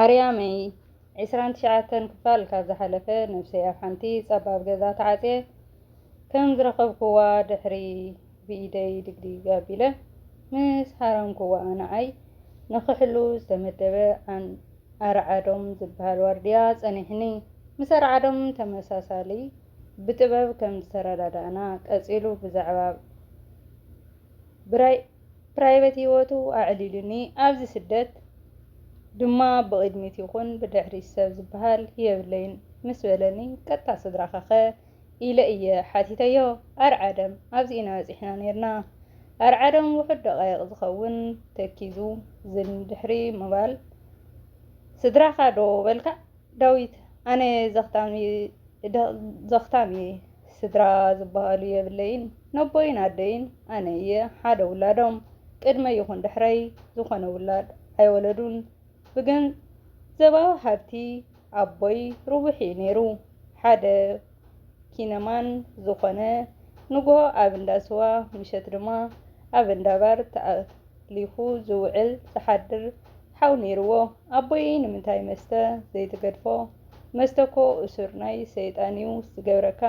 ኣርያመይ ዕስራን ትሽዓተን ክፋል ካብ ዝሓለፈ ነብሰይ ኣብ ሓንቲ ጸባብ ገዛ ተዓጽየ ከም ዝረኸብኩዋ ድሕሪ ብኢደይ ድግዲግ ኣቢለ ምስ ሃረምኩዋ ንዓይ ንኽሕሉ ዝተመደበ ኣርዓዶም ዝብሃል ዋርድያ ጸኒሕኒ። ምስ ኣርዓዶም ተመሳሳሊ ብጥበብ ከም ዝተረዳዳእና ቀጺሉ ብዛዕባ ብራይ ፕራይበት ሂወቱ ኣዕሊሉኒ ኣብዚ ስደት ድማ ብቅድሚት ይኩን ብድሕሪት ሰብ ዝብሃል የብለይን ምስ በለኒ ቀጥታ ስድራካከ ኢለ እየ ሓቲተዮ ኣርዓደም ኣብዚ ኢና በጺሕና ኔርና ኣርዓደም ውሑድ ደቃይቅ ዝከውን ተኪዙ ዝን ድሕሪ ምባል ስድራካ ዶ በልካ ዳዊት ኣነ ዘኽታም እየ ስድራ ዝበሃሉ የብለይን ነቦይን ኣደይን ኣነ እየ ሓደ ውላዶም ቅድመይ ይኹን ድሕረይ ዝኾነ ውላድ ኣይወለዱን ብገንዘባዊ ሃብቲ ኣቦይ ርቡሕ እዩ ነይሩ ሓደ ኪነማን ዝኾነ ንጉሆ ኣብ እንዳ ስዋ ምሸት ድማ ኣብ እንዳ ባር ኣሕሊኹ ዝውዕል ዝሓድር ሓው ነይርዎ ኣቦይ ንምንታይ መስተ ዘይትገድፎ መስተኮ እሱር ናይ ሰይጣንዩ ዝገብረካ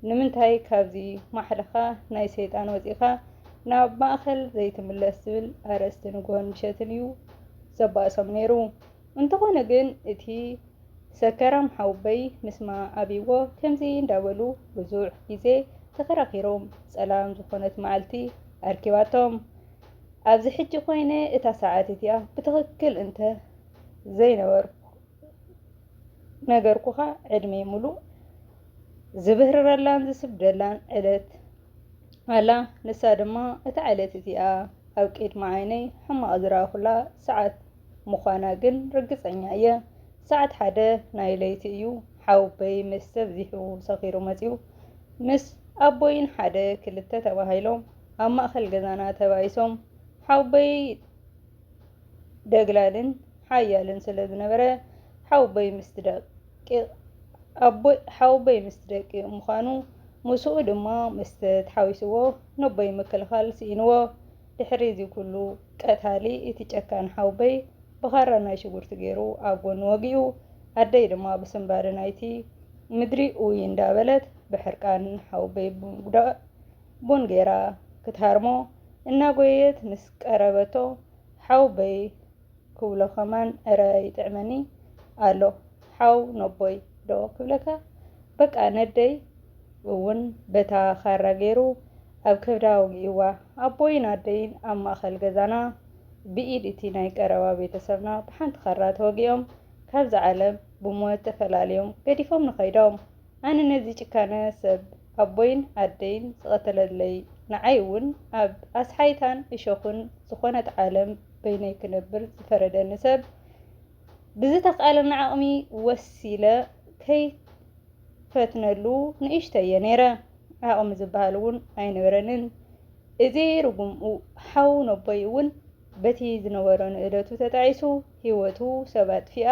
ንምንታይ ካብዚ ማሕለኻ ናይ ሰይጣን ወጺእኻ ናብ ማእከል ዘይትምለስ ዝብል ኣርእስቲ ንግሆን ምሸትን እዩ ዘባእሶም ነይሩ እንተኾነ ግን እቲ ሰከራም ሓውበይ ምስማ ኣብይዎ ከምዚ እንዳበሉ ብዙሕ ግዜ ተኸራኺሮም ጸላም ዝኾነት ማዓልቲ ኣርኪባቶም ኣብዚ ሕጂ ኮይነ እታ ሰዓት እቲኣ ብትኽክል እንተ ዘይነገርኩኻ ዕድመይ ሙሉእ ዝብህርረላን ዝስብደላን ዕለት ኣላ። ንሳ ድማ እታ ዕለት እቲኣ ኣብ ቅድሚ ዓይነይ ሕማቕ ዝረኣኹላ ሰዓት ምዃና ግን ርግጸኛ እየ። ሰዓት ሓደ ናይ ለይቲ እዩ። ሓውበይ ምስ ተብዚሑ ሰኺሩ መጺኡ ምስ ኣቦይን ሓደ ክልተ ተባሂሎም ኣብ ማእኸል ገዛና ተባኢሶም ሓውቦይ ደግላልን ሓያልን ስለ ዝነበረ ሓውቦይ ምስቲ ደቂ ኣቦይ ሓውቦይ ምስቲ ደቂ ምዃኑ ምስኡ ድማ ምስቲ ተሓዊስዎ ነቦይ ምክልኻል ስኢንዎ ድሕሪ እዚ ኩሉ ቀታሊ እቲ ጨካን ሓውቦይ ብኻራ ናይ ሽጉርቲ ገይሩ ኣብ ጎኑ ወጊኡ ኣደይ ድማ ብስንባደ ናይቲ ምድሪ ኡይ እንዳበለት ብሕርቃን ሓውቦይ ብምጉዳእ ቡን ገይራ ክትሃርሞ እናጎየየት ምስ ቀረበቶ ሓውበይ ክብሎ ከማን እረ ይጥዕመኒ ኣሎ ሓው ነቦይ ዶ ክብለካ በቃ ነደይ እውን በታ ካራ ገይሩ ኣብ ከብዳ ወጊእዋ ኣቦይን ኣደይን ኣብ ማእኸል ገዛና ብኢድ እቲ ናይ ቀረባ ቤተሰብና ብሓንቲ ካራ ተወጊኦም ካብዛ ዓለም ብሞት ተፈላልዮም ገዲፎምኒ ከይዶም። ኣነ ነዚ ጭካነ ሰብ ኣቦይን ኣደይን ዝቐተለለይ ንዓይ ውን ኣብ ኣስሓይታን እሾኽን ዝኾነት ዓለም በይነይ ክነብር ዝፈረደኒ ሰብ ብዝተኽኣለኒ ዓቕሚ ወሲለ ከይፈትነሉ ንእሽተይ እየ ነይረ። ዓቕሚ ዝበሃል እውን ኣይነበረንን። እዚ ርጉም ሓው ነቦይ እውን በቲ ዝነበሮ ንእደቱ ተጣዒሱ ህይወቱ ሰብ ኣጥፊኣ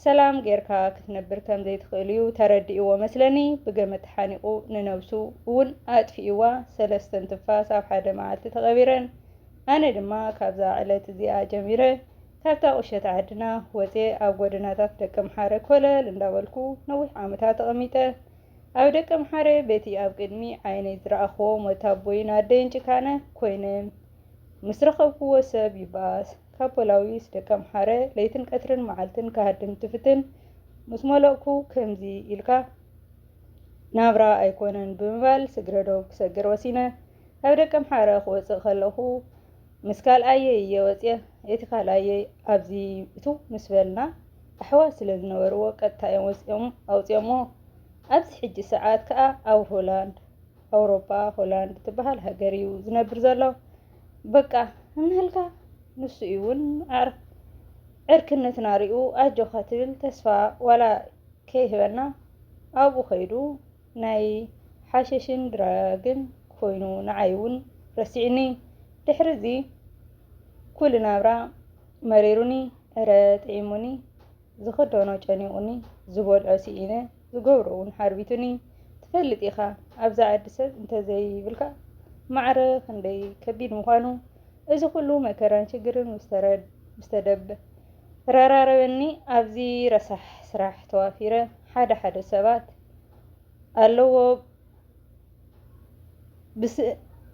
ሰላም ጌርካ ክትነብር ከም ዘይትኽእል'ዩ ተረዲእዎ መስለኒ ብገመድ ተሓኒቑ ንነብሱ ውን ኣጥፊእዋ ሰለስተን ትንፋስ ኣብ ሓደ መዓልቲ ተቐቢረን ኣነ ድማ ካብዛ ዕለት እዚኣ ጀሚረ ካብታ ቁሸት ዓድና ወጼ ኣብ ጎደናታት ደቀምሓረ ኮለል እንዳበልኩ ነዊሕ ዓመታት ተቐሚጠ ኣብ ደቀምሓረ በቲ ኣብ ቅድሚ ዓይነይ ዝረኣኽዎም ወታቦይን ኣደይን ጭካነ ኮይነ ምስ ረኸብክዎ ሰብ ይባኣስ ካብ ፖላዊስ ደቂ ኣምሓረ ለይትን ቀትርን መዓልትን ክሃድም ትፍትን ምስ መለእኩ ከምዚ ኢልካ ናብራ ኣይኮነን ብምባል ስግረዶብ ክሰግር ወሲነ ካብ ደቂ ኣምሓረ ክወጽእ ከለኹ ምስ ካልኣየይ እየ ወጽየ እቲ ካልኣየይ ኣብዚ እትው ምስ በልና ኣሕዋት ስለ ዝነበርዎ ቀጥታ እዮም ወጺኦም ኣውጽኦሞ ኣብዚ ሕጂ ሰዓት ከኣ ኣብ ሆላንድ ኣውሮጳ ሆላንድ ትበሃል ሃገር እዩ ዝነብር ዘሎ በቃ እንህልካ ንሱ እዩ እውን ዕርክነትና ሪኡ ኣጆካ ትብል ተስፋ ዋላ ከይህበና ኣብኡ ከይዱ ናይ ሓሸሽን ድራግን ኮይኑ ንዓይ እውን ረሲዕኒ ድሕሪ እዚ ኩሉ ናብራ መሪሩኒ እረ ጥዒሙኒ ዝኽደኖ ጨኒቑኒ፣ ዝበልዖ ስኢነ፣ ዝገብሮ'ውን ሓርቢቱኒ። ትፈልጥ ኢኻ፣ ኣብዛ ዓዲ ሰብ እንተ ዘይብልካ ማዕረ ክንደይ ከቢድ ምዃኑ። እዚ ኹሉ መከራን ሽግርን ምስ ተደራረበኒ፣ ኣብዚ ረሳሕ ስራሕ ተዋፊረ። ሓደ ሓደ ሰባት ኣለዎ።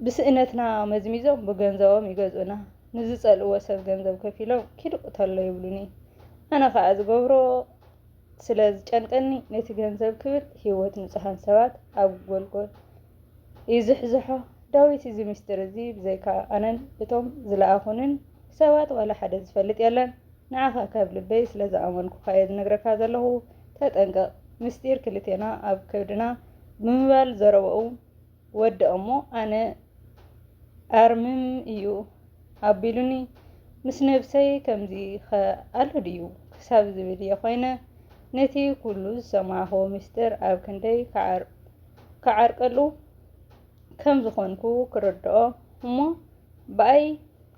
ብስእነትና መዝሚዞም ብገንዘቦም ይገዝኡና። ንዝጸልእዎ ሰብ ገንዘብ ከፊሎም ኪድ ቅተሎ ይብሉኒ። ኣነ ከኣ ዝገብሮ ስለ ዝጨንቀኒ ነቲ ገንዘብ ክብል ህይወት ንጹሃን ሰባት ኣብ ጎልጎል ይዝሕዝሖ። ዳዊት እዚ ምስጢር እዚ ብዘይካ ኣነን እቶም ዝለኣኹንን ሰባት ዋላ ሓደ ዝፈልጥ የለን። ንዓኻ ካብ ልበይ ስለ ዝኣመንኩኻ እየ ዝነግረካ ዘለኹ ተጠንቀቕ። ምስጢር ክልቴና ኣብ ከብድና ብምባል ዘረባኡ ወደኦ እሞ ኣነ ኣርምም እዩ ኣቢሉኒ ምስ ነብሰይ ከምዚ ኸ ኣሎ ድዩ ክሳብ ዝብል እየ ኮይነ ነቲ ኩሉ ዝሰማዕኹዎ ምስጢር ኣብ ክንደይ ክዓርቀሉ ከም ዝኾንኩ ክርድኦ እሞ ብኣይ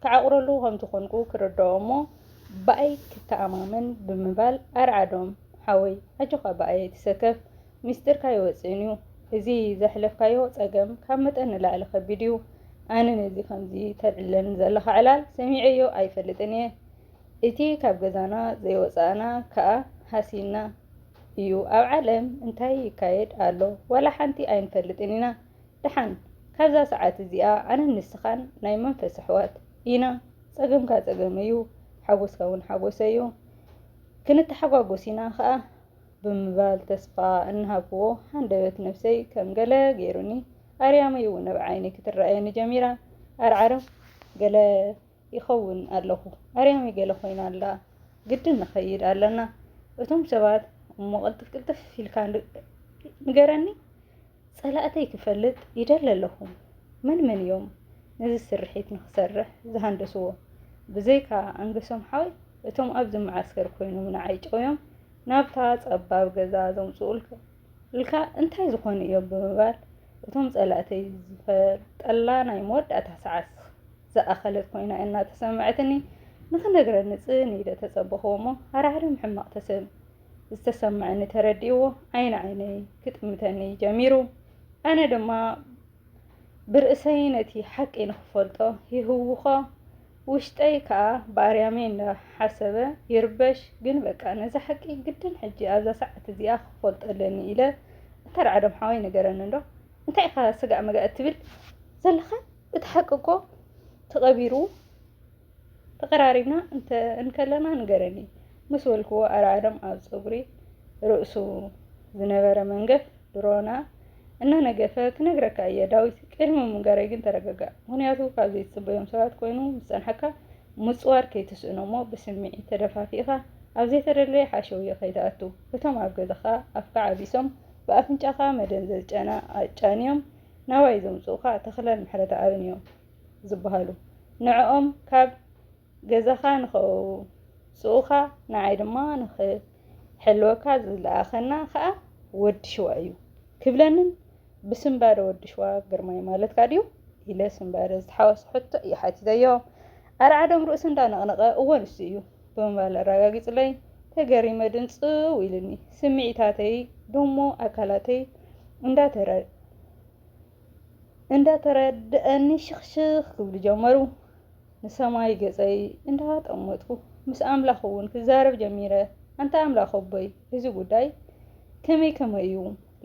ክዓቑረሉ ከም ዝኾንኩ ክርድኦ እሞ ብኣይ ክተኣማመን ብምባል ኣርዓዶም ሓወይ ኣጆኻ ብኣይ ኣይትሰከፍ ሚስጢርካ ኣይወጽእን እዩ እዚ ዘሕለፍካዮ ጸገም ካብ መጠን ንላዕሊ ከቢድ እዩ ኣነ ነዚ ከምዚ ተልዕለኒ ዘለኻ ዕላል ሰሚዐዮ ኣይፈልጥን እየ እቲ ካብ ገዛና ዘይወጻእና ከኣ ሃሲና እዩ ኣብ ዓለም እንታይ ይካየድ ኣሎ ዋላ ሓንቲ ኣይንፈልጥን ኢና ደሓን ካብዛ ሰዓት እዚኣ ኣነን ንስኻን ናይ መንፈስ ኣሕዋት ኢና ጸገምካ ጸገመይ እዩ ሓጎስካ እውን ሓጎሰይ እዩ ክንተሓጓጎስ ኢና ከኣ ብምባል ተስፋ እናሃብኩዎ፣ ሃንደበት ነብሰይ ከም ገለ ገይሩኒ። ኣርያመይ'ውን ኣብ ዓይነይ ክትረኣየኒ ጀሚራ። ዓርዓር ገለ ይኸውን ኣለኹ፣ ኣርያመይ ገለ ኾይና ኣላ፣ ግድን ንኸይድ ኣለና፣ እቶም ሰባት እሞ ቅልጥፍ ቅልጥፍ ኢልካ ንገረኒ፣ ጸላእተይ ክፈልጥ ይደሊ ኣለኹ። መን መን እዮም ነዚ ስርሒት ንኽሰርሕ ዝሃንደስዎ? ብዘይካ ኣንገሶም ሓወይ እቶም ኣብዚ መዓስከር ኮይኖም ንዓይ ጨውዮም ናብታ ጸባብ ገዛ ዘምጽኡልካ እንታይ ዝኾኑ እዮም ብምባል እቶም ጸላእተይ ዝፈልጠላ ናይ መወዳእታ ሰዓት ዝኣኸለት ኮይና እናተሰምዐትኒ ንኽነግረኒ ጽን ኢለ ተጸበኹዎ እሞ ሃራዕርም ሕማቕ ተሰም ዝተሰምዐኒ ተረዲእዎ ዓይኒ ዓይነይ ክጥምተኒ ጀሚሩ። ኣነ ድማ ብርእሰይ ነቲ ሓቂ ንኽፈልጦ ይህውኾ፣ ውሽጠይ ከኣ ብኣርያመይ እንዳሓሰበ ይርበሽ። ግን በቃ ነዛ ሓቂ ግድን ሕጂ ኣብዛ ሰዓት እዚኣ ክፈልጦ ኣለኒ ኢለ እተራዕዶም ሓወይ ነገረኒ እንዶ እንታይ ኢኻ ስጋእ መጋእ እትብል ዘለኻ እቲ ሓቂ እኮ ተቐቢሩ ተቐራሪብና እንተ እንከለና ንገረኒ ምስ በልክዎ ኣርዓዶም ኣብ ጸጉሪ ርእሱ ዝነበረ መንገፍ ድሮና እናነገፈ ክነግረካ እየ ዳዊት ቅድሚ ምንጋረይ ግን ተረጋጋእ ምክንያቱ ካብ ዘይትጽበዮም ሰባት ኮይኑ ምስ ጸንሓካ ምጽዋር ከይትስእኖ እሞ ብስምዒት ተደፋፊእካ ኣብ ዘይተደለየ ሓሸውየ ከይትኣቱ እቶም ኣብ ገዛኻ ኣፍካ ዓቢሶም ብኣፍንጫኻ መደንዘዝ ጨና ኣጫንዮም ናባይ ዘምጽኡኻ ተኽለን ምሕረተኣብን እዮም ዝበሀሉ ንዕኦም ካብ ገዛኻ ንኸውጽኡኻ ንዓይ ድማ ንኽሕልወካ ዝለኣኸና ኸኣ ወዲ ሽዋ እዩ ክብለንን ብስንባደ ወዲ ሽዋ ግርማይ ማለትካ ድዩ ኢለ ስንባደ ዝተሓወሶ ሕቶ እዩ ሓቲተዮ ኣርዓዶም ርእሱ እንዳነቕነቐ እወ ንሱ እዩ ብምባል ኣረጋጊጹለይ ተገሪመ ድንጽው ኢሉኒ ስምዒታተይ ደሞ ኣካላተይ እንዳተረ እንዳተረደኣኒ ሽኽሽኽ ክብሉ ጀመሩ። ንሰማይ ገጸይ እንዳጠመትኩ ምስ ኣምላኽ'ውን ክዛረብ ጀሚረ፣ ኣንታ ኣምላኽ ኣቦይ እዚ ጉዳይ ከመይ ከመይ'ዩ፣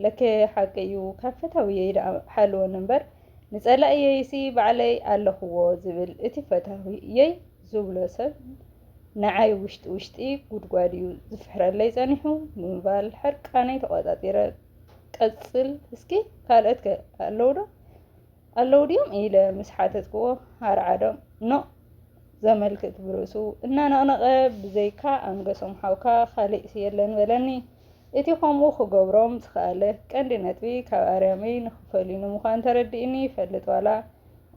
ለከ ሓቂ'ዩ ካብ ፈታዊየይ ደኣ ሓልወኒ'ምበር ንጸላኢየይሲ ባዕለይ ኣለኽዎ ዝብል እቲ ፈታዊየይ ዝብሎ ሰብ ንዓይ ውሽጢ ውሽጢ ጉድጓድ'ዩ ዝፍሕረለይ ጸኒሑ ብምባል ሕርቃነይ ተቖጻጺረ ቀጽል እስኪ ካልኦት ከ ኣለዉ ዶ ኣለዉ ድዮም ኢለ ምስ ሓተትክዎ ኣርዓዶም ኖ ዘመልክት ብርእሱ እናነቕነቐ ብዘይካ ኣንገሶም ሓውካ ካልእሲ የለን በለኒ። እቲ ከምኡ ክገብሮም ዝኸኣለ ቀንዲ ነጥቢ ካብ ኣርያመይ ንክፈልዩኒ ምዃን ተረዲእኒ ይፈልጥ ዋላ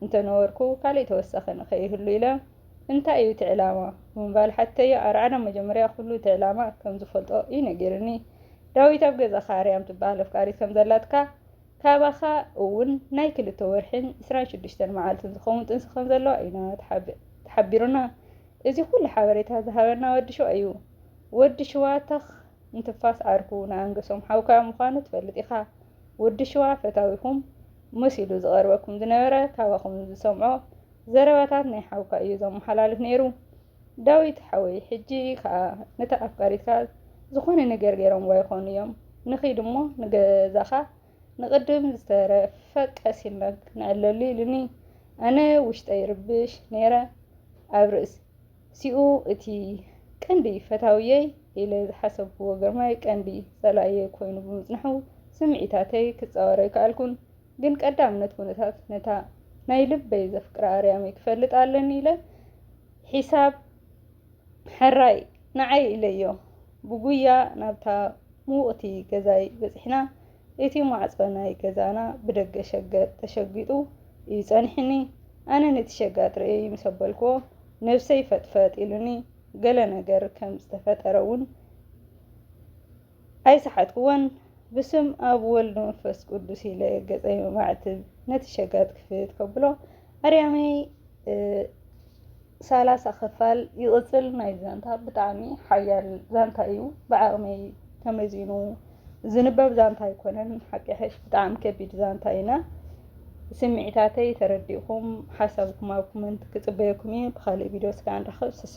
እንተነበርኩ ካልእ ተወሳኺ ንኸይህሉ ኢለ እንታይ እዩ እቲ ዕላማ ብምባል ሓተዮ። ኣርዓዶም መጀመርያ ኩሉ እቲ ዕላማ ከም ዝፈልጦ እዩ ነጊርኒ። ዳዊት ኣብ ገዛኻ ኣርያም ትበሃል ኣፍቃሪት ከም ዘላትካ ካባኻ እውን ናይ ክልተ ወርሒን ዕስራን ሽዱሽተን መዓልትን ዝኸውን ጥንሲ ከም ዘለዋ ኢና ተሓቢሩና። እዚ ኩሉ ሓበሬታ ዝሃበና ወዲ ሽዋ እዩ። ወዲ ሽዋ ተኽ ንትንፋስ ዓርኩ ንኣንገሶም ሓውካ ምዃኑ ትፈልጥ ኢኻ። ወዲ ሽዋ ፈታዊኹም መሲሉ ዝቐርበኩም ዝነበረ ካባኹም ዝሰምዖ ዘረባታት ናይ ሓውካ እዩ ዘመሓላልፍ ነይሩ። ዳዊት ሓወይ ሕጂ ከኣ ነታ ኣፍቃሪትካ ዝኾነ ነገር ጌሮምዋ ይኾኑ እዮም ንኺድ እሞ ንገዛኻ ንቅድም ዝተረፈ ቀስ ኢልና ክንዕለሉ ኢሉኒ ኣነ ውሽጠይ ይርብሽ ኔረ ኣብ ርእስ ሲኡ እቲ ቀንዲ ፈታውየይ ኢለ ዝሓሰብክዎ ግርማይ ቀንዲ ጸላኢየይ ኮይኑ ብምጽንሑ ስምዒታተይ ክጻወር ኣይከኣልኩን ግን ቀዳምነት ኩነታት ነታ ናይ ልበይ ዘፍቅራ ኣርያመይ ክፈልጥ ኣለኒ ኢለ ሒሳብ ሕራይ ንዓይ ኢለዮ ብጉያ ናብታ ምውቕቲ ገዛይ በጺሕና። እቲ ማዕጾ ናይ ገዛና ብደገ ሸገጥ ተሸጊጡ እዩ ጸኒሑኒ። ኣነ ነቲ ሸጋጥ ርእየይ ምስ ኣበልክዎ ነብሰይ ፈጥፈጥ ኢሉኒ ገለ ነገር ከም ዝተፈጠረ እውን ኣይሰሓትኩዎን። ብስም ኣብ ወልድ መንፈስ ቅዱስ ኢለ ገጸይ መማዕትብ ነቲ ሸጋጥ ክፍት ከብሎ ኣርያመይ ሳላሳ ክፋል ይቕጽል ናይ ዛንታ ብጣዕሚ ሓያል ዛንታ እዩ ብዓቕመይ ተመዚኑ ዝንበብ ዛንታ ኣይኮነን ሓቂ ሕሽ ብጣዕሚ ከቢድ ዛንታ ኢና ስምዒታተይ ተረዲእኩም ሓሳብኩም ኣብ ኮመንት ክጽበየኩም እዩ ብካልእ ቪድዮ ስጋ ንራኸብ ስሰ